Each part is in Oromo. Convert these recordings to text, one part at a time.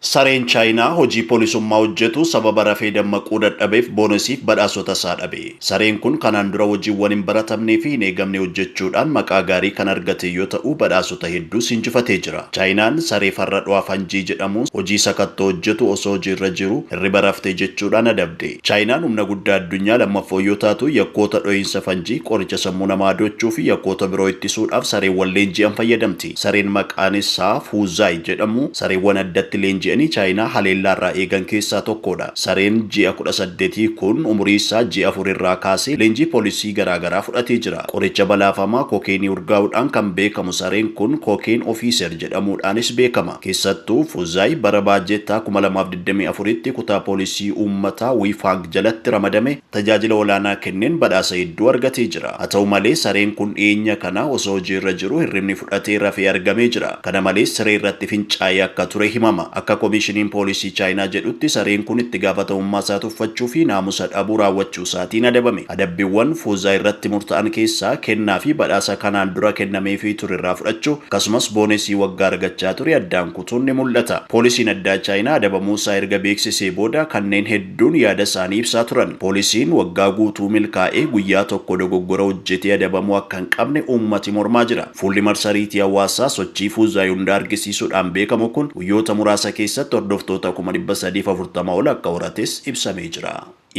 Sareen Chaayinaa hojii polisummaa hojjetu sababa rafee dammaquu dadhabeef boonesiif badhaasota isaa dhabe. Sareen kun kanaan dura hojiiwwan hin baratamnee fi hin eegamne hojjechuudhaan maqaa gaarii kan argate yoo ta'u badhaasota hedduus injifatee jira. Chaayinaan saree farra dho'a fanjii jedhamuun hojii sakattoo hojjetu osoo hojii irra jiruu hirriba rafte jechuudhaan adabde. Chaayinaan humna guddaa addunyaa lammaffoo yoo taatu yakkoota dhohiinsa fanjii, qoricha sammuu namaa adoochuu fi yakkoota biroo ittisuudhaaf sareewwan leenji'an fayyadamti. Sareen maqaan issaa Fuuzzaay jedhamu sareewwan addatti leenji'anii Chaayinaa haleellaa irraa eegan keessaa tokkoodha. Sareen ji'a kudha saddetii kun umurii issaa ji'a afur irraa kaasee leenjii poolisii garaa garaa fudhatee jira. Qoricha balaafamaa kookeenii urgaa'uudhaan kan beekamu sareen kun Cocaine Officer jedhamuudhaanis beekama. Keessattuu Fuuzzaay bara baajettaa kuma lamaa fi digdamii afuritti kutaa poolisii uummataa Wiifang jalatti ramadame. tajaajila olaanaa kenneen badhaasa hedduu argatee jira. Haa ta'u malee, sareen kun dhiyeenya kana osoo hojii irra jiruu hirribni fudhatee rafee argamee jira. Kana malees, siree irratti fincaa'ee akka ture himama. Akka Komiishiniin Poolisii Chaayinaa jedhutti, sareen kun itti gaafatamummaa isaa tuffachuu fi naamusa dhabuu raawwachuu isaatiin adabame. Adabbiwwan Fuuzaa irratti murta'an keessaa, kennaa fi badhaasa kanaan dura kennameefii ture irraa fudhachuu, akkasumas boonesii waggaa argachaa ture addaan kutuun ni mul'ata. Poolisiin Addaa Chaayinaa adabamuu isaa erga beeksisee booda kanneen hedduun yaada isaanii ibsaa turan. Poolisiin waggaa guutuu milkaa'ee guyyaa tokko dogoggora hojjetee adabamuu akka hin qabne uummati mormaa jira. Fuulli marsariitii hawaasaa sochii Fuuzaa Yuundaa argisiisuudhaan beekamu kun guyyoota muraasa keessatti hordoftoota kuma dhibba sadii fi afurtama ol akka horates ibsamee jira.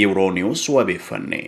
Euronews wabeeffanne.